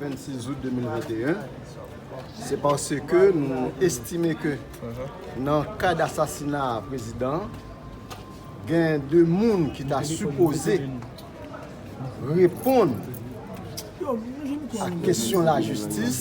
26 out 2021, se paske nou estime ke nan ka d'asasina prezidan, gen 2 moun ki ta sipoze reponn a kesyon la jistis,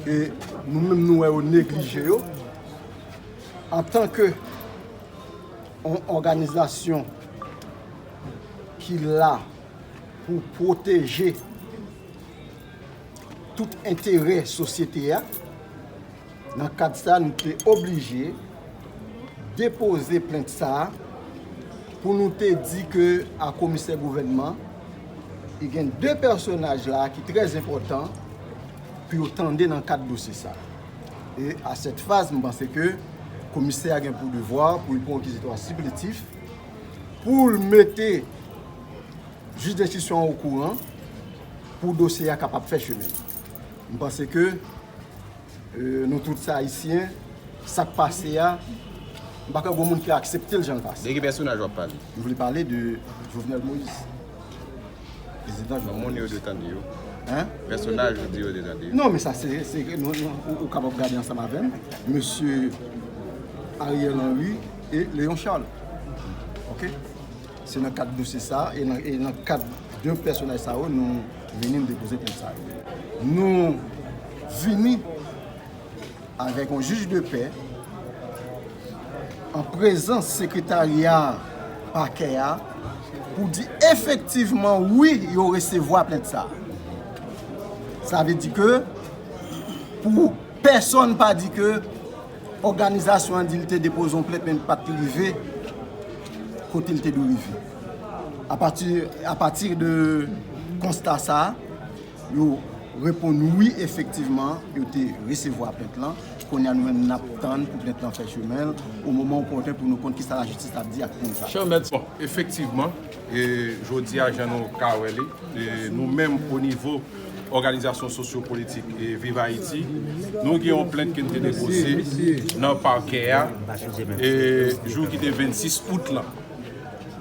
e nou menm nou wè yo neglije yo, antanke yon òganizasyon, ki la pou pwoteje tout enterè sosyete a. Nan kad sa nou te oblije depoze plent sa pou nou te di ke a komisè gouvènman e gen 2 pèsonaj la ki trè enpòtan pou yo tande nan kad dosye sa. E a sèt faz m panse ke komisè a gen pou devwa pou l pran kizitwa sipletif. pou l mete jij denstriksyon an okouran pou dosye a kapab fè chemen li. M panse ke nou tout se Ayisyen, sa k pase a, m pa kwè gen yon moun ki aksepte l jan l pase a. De ki pèsonaj w ap pale? M vle pale de Jovenel Moïse. Moun yo dwe tande yo. Pèsonaj ou di yo dwe tande yo. Non men sa se ou kapab gade ansanm avèm mesye Ariel Henry e Leon Charles. Ok se nan kad dosye sa e nan kad de pèsonaj sa yo nou vini nou depoze plent sa yo. Nou vini. Avèk yon jij de pè, an prezans sekretarya pakè a, pou di efektivman wi yo resevwa plent sa. Sa vle di ke pou pèsòn pa di ke òganizasyon an di li te depoze yon plent men li pat rive kote li te dwe rive. A pati de konsta sa, Yo reponn wi efektivman yo te resevwa plent lan, kounye a nou menm nap tann pou plent lan fè chemen l o moman opòten pou nou konn kisa lajistis ap di ak moun sa yo. Bon efektivman jodi a jan nou ka wè li nou menm o nivo òganizasyon sosyo politik viv ayiti nou gen yon plent ke n te depoze nan pakè a jou ki te 26 out lan.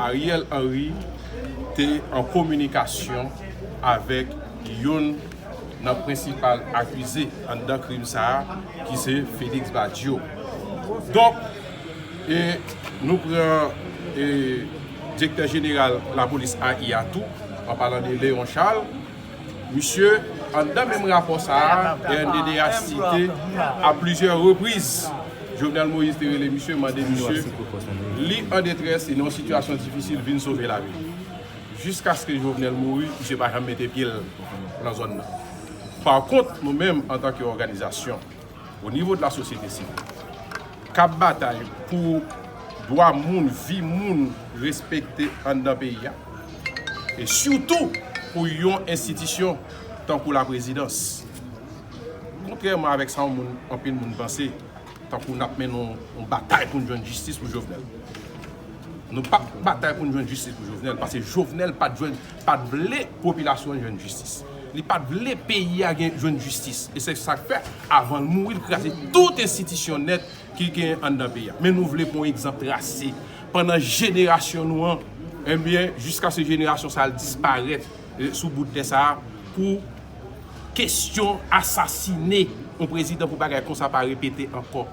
Ariel Henry te an kominikasyon avèk youn nan prensipal akize anndan krim sa a ki se Félix Badio. Donk, nou pran Direktè Jeneral Lapolis AI a tou, an palan de Léon Charles, Misye, anndan menm rapò sa a, rnddh site a plizyè repriz, Jovenel Moïse te rele misye, mande misye, li an detrès, li nan yon sitiyasyon difisil, vin sove lavi l. Jiskaske Jovenel mouri, misye pa janm mete pye l nan zòn nan. Pakont, nou menm, antanke òganizasyon. o nivo de la sosyete sivil, k ap batay pou dwa moun, vi moun respekte anndan peyi a, e sitou pou yon enstitisyon tankou laprezidans. Kontrèman avèk sa yon moun, anpil moun panse, tankou n ap mennen yon batay pou n jwenn jistis pou Jovenel. Nou p ap batay pou n jwenn jistis pou Jovenel, pase Jovenel pa t jwenn. pat vle popilasyon an jwenn jistis li pat vle peyi a gen jwenn jistis e se sak fè avan l mouri l kraze tout enstitisyon nèt ki gen anndan peyi a men nou vle pou yon egzanp trase pandan jenerasyon nou an ebyen jiskaske jenerasyon sa l disparèt sou bout tè sa pou kesyon asasine yon prezidan pou bagay konsa pa repete ankò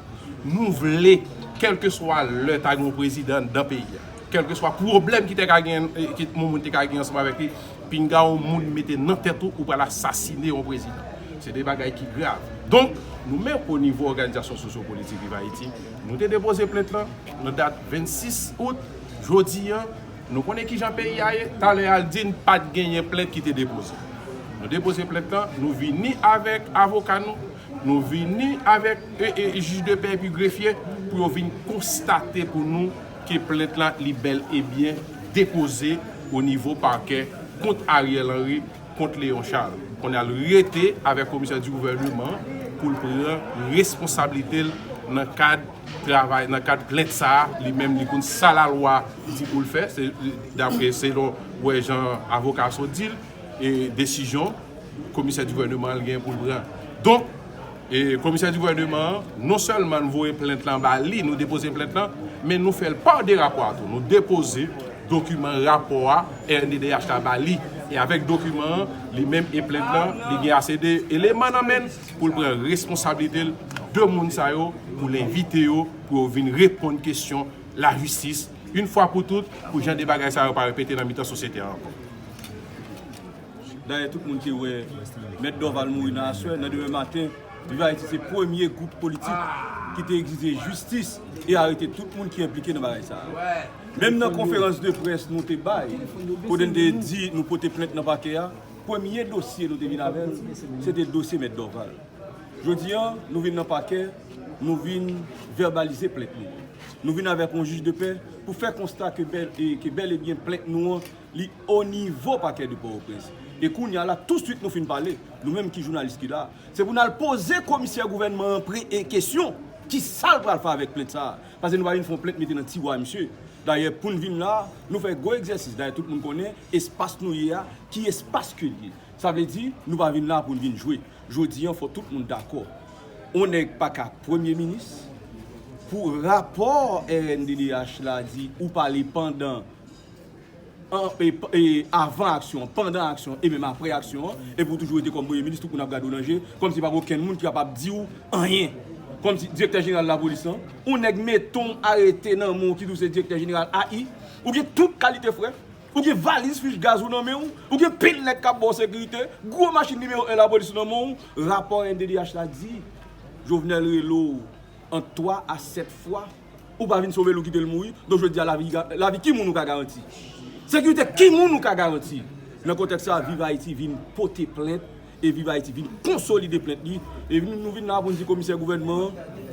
nou vle kèlkeswa lè ta gen yon prezidan anndan peyi a. Kèlkeswa pwoblèm ki te ka gen, ke yon moun te ka gen ansanm avèk li, pinga yon moun mete nan tèt ou, ou pral asasine yon prezidan. Se 2 bagay ki grav. Donk, nou menm o nivo òganizasyon sosyopolitik Viv Ayiti, nou te depoze plent lan nan dat 26 out. Jodi an, nou konnen ki jan peyi a ye. Talè a l di n pa t genyen plent ki te depoze. Nou depoze plent lan, nou vini avèk avoka nou, nou vini avèk jij de pè epi grefye pou yo vin konstate pou nou. ke plent la li bèl e byen depoze o nivo pakè kont Ariel Henry, kont Léon Charles. Kounye a l rete avèk komisè di gouvèneman pou l pran responsablite l nan kad travay, nan kad plent sa a li menm li konn sa lalwa di pou l fè, se dapre selon wè jan avoka sot di l e desizyon komisè di gouvèneman l gen pou l pran. Donk. E komisè di gouvèneman an, non sèlman n voye plent lan ba li, nou depoze plent lan, men nou fè l pa de rapò a tou. Nou depoze dokiman rapò a rnddh la ba li. E avèk dokiman an, li menm e plent lan, li gen ase de eleman nan men l pou l pran responsablite l de moun sa yo, pou l envite yo, pou yo vin reponn kesyon lajistis, in fwa pou tout, pou jan de bagay sa yo pa repete nan mitan sosyete a ankò. Dayè tout moun te wè Mèt Dorval mouri nan aswè, nan demen maten, Viv Ayiti se premye gwoup politik ki te egzije jistis e arete tout moun ki enplike nan bagay sa a. Menm nan konferans de près nou te bay, kote n te di nou pote plent nan pakè a, premye dosye nou te vin avè l, se te dosye Mèt Dorval. Jodi an, nou vin nan pakè, nou vin vèbalize plent nou an. Nou vin avèk yon jij de pè pou fè konsta ke bèl e byen plent nou an Li o nivo Pakè de Pòtoprens. E kounye a la, tousuit nou fin pale, nou menm ki jounalis ki la a, se pou n al poze komisè gouvènman an pre e kesyon, ki sa l pral fè avèk plent sa a? Pase nou pa vin fè yon plent mete nan tiwa misye. Dayè, pou n vin la a, nou fè gwo egzèsis. Dayè, tout moun konnen espas nou ye a, ki espas ke l ye. Sa vle di, nou pa vin la a pou n vin jwe. Jodi an, fò tout moun dakò. On nèg pa ka premye minis, pou rapò rnddh la di ou pale pandan. avan aksyon an, pandan aksyon an e menm aprè aksyon an, epi ou toujou rete kòm premye minis, tout moun ap gade w nan je, kòmsi pa gen okenn moun ki kapab di w anyen, kòmsi direktè jeneral lapolis lan, yon nèg mete w arete nan men w ki di w se direktè jeneral AI, ou gen tout kalite frè, ou gen valiz fich gaz ou nan men w, ou gen pil nèg k ap ba w sekirite, gwo machin nimewo 1 lapolis ou nan men w, rapò NDDH la di, Jovenel rele w ant 3 a 7 fwa. Ou pa vin sovel ou kitel mouri, donk jodi a lavi ki moun ou ka garanti? Sekirite ki moun ou ka garanti? Nan kontèks sa, Viv Ayiti vin pote plent e Viv Ayiti vin konsolide plent li e nou vin la a pou n di komisè gouvènman an,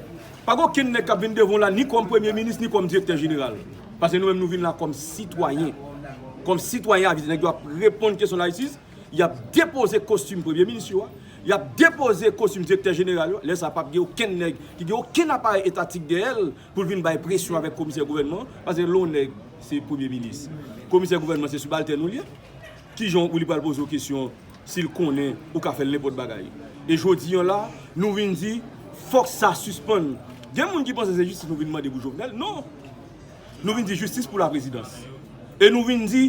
pa gen okenn nèg k ap vin devan w la ni kòm premye minis ni kòm direktè jeneral paske nou menm nou vin la kòm sitwayen kòm sitwayen avize nèg yo ap reponn kesyon layisis. Y ap depoze kostim premye minis yo a, y ap depoze kostim direktè jeneral yo a, lè sa a pap gen okenn nèg ki gen okenn aparèy etatik dèyè l pou l vin bay presyon avèk komisè gouvènman an, paske lè w nèg se premye minis, komisè gouvènman se sibaltèn ou l ye, ki jan w li pral poze w kesyon si l konnen ou ka fè l nenpòt bagay? E jodi an la a, nou vin di fòk sa sispann. Gen moun ki panse se jistis nou vin mande pou Jovenel, non! Nou vin di jistis pou la prezidans. E nou vin di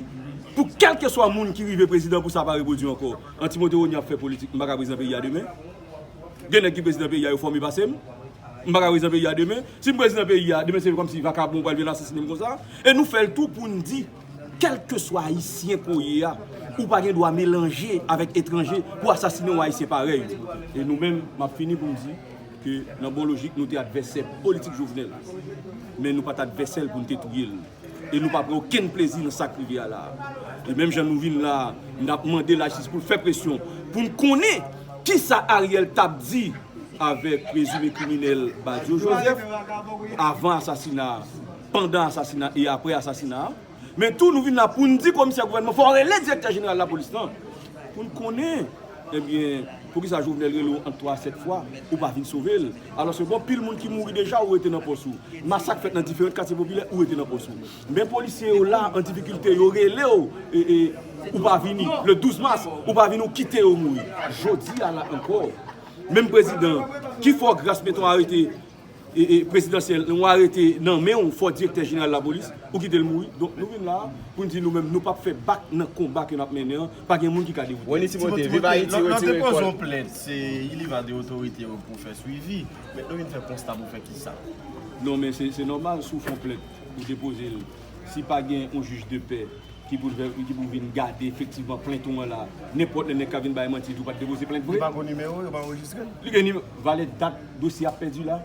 pou kelke swa moun ki rive prezidan pou sa pa repwodui anko. An Timote Rony ap fè politik, m pa ka prezidan peyi a demen. Gen nèg ki prezidan peyi a yo fòme pase m. M pa ka prezidan peyi a demen. Si m prezidan peyi a, demen se kom si vakabon pral vin asasine m konsa. E nou fè l tou pou n di kelke swa ayisyen ke w ye a, ou pa gen dwa melanje avèk etranje pou asasine yon ayisyen parèy ou. E nou menm, m ap fini pou m di. ke nan bon lojik nou te advèsè politik Jovenel, men nou pa t advèsè l pou n te touye l, e nou pa pran okenn plezi nan sa k rive a la a. E menm jan nou vin la a, n ap mande lajistis pou l fè presyon pou n konnen kisa Ariel t ap di avèk prezime kriminèl Badio Joseph avan asasina a, pandan asasina e aprè asasina a. Men tou nou vin la poun di komisè gouvènman fò rele direktè jeneral lapolis lan poun konnen ebyen poukisa Jovenel rele w ant 3 a 7 fwa ou pa vin sove l alòske gon pil moun ki mouri deja ou rete nan pòs ou masak fèt nan diferent katye popilè ou rete nan pòs ou men polisye yo la an difikilte yo rele w ou pa vini le 12 mas ou pa vini ou kite yo mouri jodi a la ankò menm prezidan ki fè w gras mete w arete prezidansyèl yon arete nan menw fò direktè jeneral lapolis ou kitel mouri donk nou vin la poun di nou menm nou pap fè bak nan konba ke nap mennen an pa gen moun ki ka dewoute Rony Timothé viv ayiti retire kòl nan depoze yon plent se li va de otorite yo pou fè swivi men nou vin fè konsta pou fè kisa non men se nòmal si w fon plent ou depozel si pa gen yon jij de pè ki pou fè ki pou vin gade efektivman plent ou an la nenpòt lè nèg ka vin bay manti di w pat depoze plent vre li pa gen nimewo yo pa anrejistrel li gen nimewo valè dat. Dosye ap pèdi la?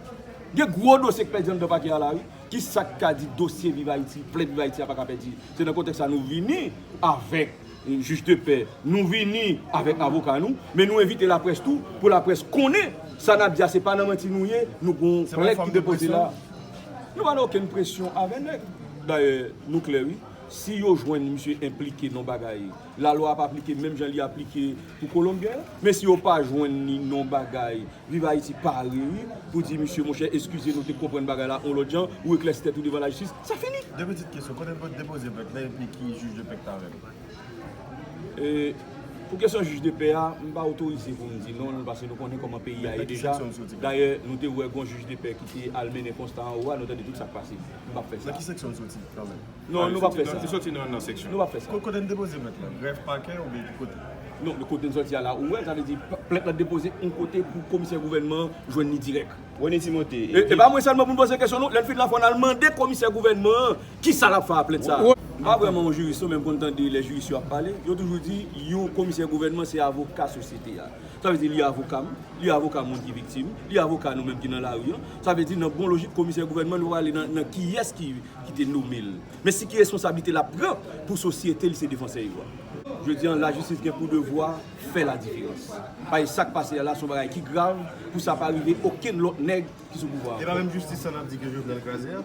Gen gwo dosye k pèdi anndan pakè a la wi. Kisa k ka di dosye Viv Ayiti, plent Viv Ayiti a pa ka pèdi? Se nan kontèks sa nou vini avèk Jij de pè, nou vini avèk avoka nou, men nou envite laprès tou pou laprès konnen sa n ap di a se pa nan manti nou ye, nou gon plent ki depoze la. Nou pa nan okenn presyon avè nèg. Dayè nou klè wi, si yo jwenn misye enplike nan yon bagay, lalwa ap aplike menm jan li aplike pou Kolonbyen an, men si yo pa jwenn li nan yon bagay, Viv Ayiti pare wi pou di misye monchè eskize nou te konprann bagay la yon lòt jan ou eklèsi tèt ou devan lajistis sa fini. De pitit kesyon, kote nou pot depoze plent la epi ki jij de pè k ta avè nou? Pou kesyon jij de pè a, m pa otorize pou m di non l pase nou konnen koman peyi a ye deja, dayè nou te wè gon jij de pè ki te al mennen konsta anwo a nou tande tout sa k pase, m pap fè sa. Nan ki seksyon l soti kanmèm? Non nou pap fè sa. Li soti nan nan seksyon. Nou pap fè sa. Kote n depoze plent lan? Grèf, pakè oubyen ki kote? Non men kote n soti a la ou wè l sa vle di plent lan depoze yon kote pou komisè gouvènman an jwenn li dirèk. Rony Timothé, E di. E pa mwen sèlman pou n poze kesyon non. Lè n fin la fò n al mande komisè gouvènman an kisa l ap fè a plent sa a. M pa vrèman yon jiris non men m konn tande lè jiris yo ap pale. Yo toujou di yon komisè gouvènman se avoka sosyete a. Sa vle di li avoka m, li avoka moun ki viktim, li avoka nou menm ki nan lari an. Sa vle di nan bon lojik komisè gouvènman nou pral ale nan kiyès ki ki te nome l. Men si ki responsablite lap pran pou sosyete li se defansè yo a. Jodi an lajistis gen pou devwa fè la diferans. Paske sak pase a la son bagay ki grav pou sa pa rive okenn lòt nèg ki sou pouvwa a ankò. E pa menm jistis sa nap di ke Jovenel kraze a?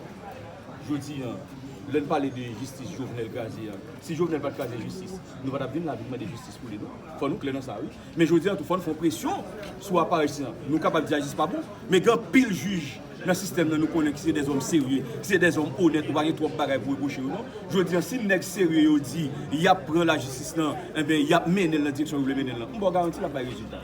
Jodi an lè n pale de jistis Jovenel kraze a, si Jovenel pat kraze jistis nou pa tap vin la vin mande jistis pou li non. Fò nou klè nan sa wi. Men jodi an tou fò n fè yon presyon sou aparèy sila. Nou kapab di Ajis pa bon, men gen anpil jij nan sistèm nan nou konnen ki se dèzòm serye, ki se dèzòm onèt, nou pa gen twòp bagay pou repwoche yo non. Jodi an si nèg serye yo di y ap pran lajistis nan, enben y ap mennen l nan direksyon yo vle mennen l lan, m ba w garanti l ap bay rezilta.